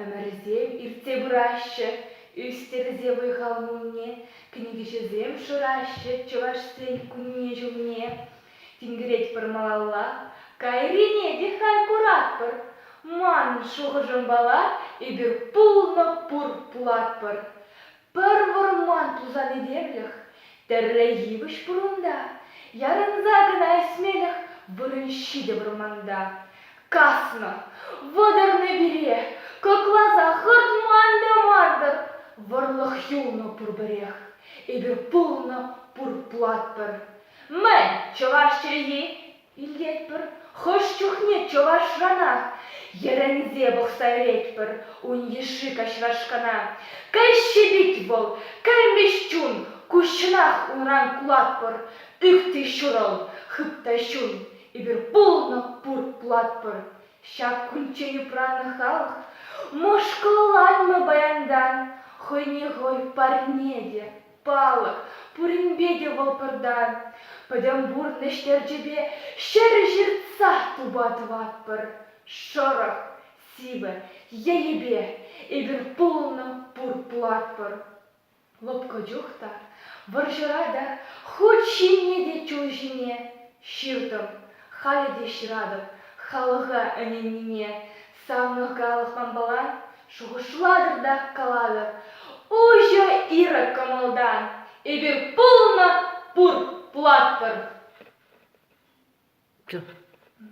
Ӗмӗрсем иртсе пыраҫҫӗ, ӳстерсе вӑй-хал-мулне, кӗнекеҫӗсем шыраҫҫӗ чӑвашсен кунне-ҫулне. Тинкеретпӗр малалла, кайрине те хай куратпӑр. Манӑн шухӑшӑмпала эпир пулнӑ пур пулатпӑр. Пӗр вӑрман тусан этемлӗх тӗрре йывӑҫ пурӑнта, Ярӑнса кӑна ӳсмелӗх вырӑн ҫитӗ вӑрманта. Каснӑ, вӑтӑрнӑ пире, кӑкласа хӑртман та мар-тӑр, Вӑрлӑх юлнӑ пурпӗрех, эпир пулнӑ пур платпӑр. Мӗн, чӑваш чӗлхи Илетпӗр, хӑш чухне чӑвашранах йӗрӗнсе пӑхса вӗретпӗр ун йышши каҫрашкана. Кӗҫҫе пит вӑл, кӗлмӗҫ чун, куҫҫӑнах унран кулатпӑр, тыкти ҫурӑл, хыпта ҫун, эпир пулнӑ пур пулатпӑр. Ҫак кунччен упраннӑ халӑх мӑшкӑлланмӗ паянтан хӑйне хӑй парне те. палӑк, пуринпе те вӑл пӗртан пӗтӗм пурнӑҫ-терчӗпе ҫӗрӗ ҫыртса тупа тӑватпӑр. Шӑрӑх, сивӗ енӗпе эпир пулнӑ пуртлатпӑр. Лӑпкӑ чух та, вӑрҫӑра та, хут ҫине те чул ҫине ҫыртӑм. Халӗ те ҫыратӑп халӑха ӗненнине, Савнӑх калас манпала шухӑшлатӑр та калатӑр, уҫӑ ирӗк кӑмӑлтан эпир пулма пур пулатпӑр.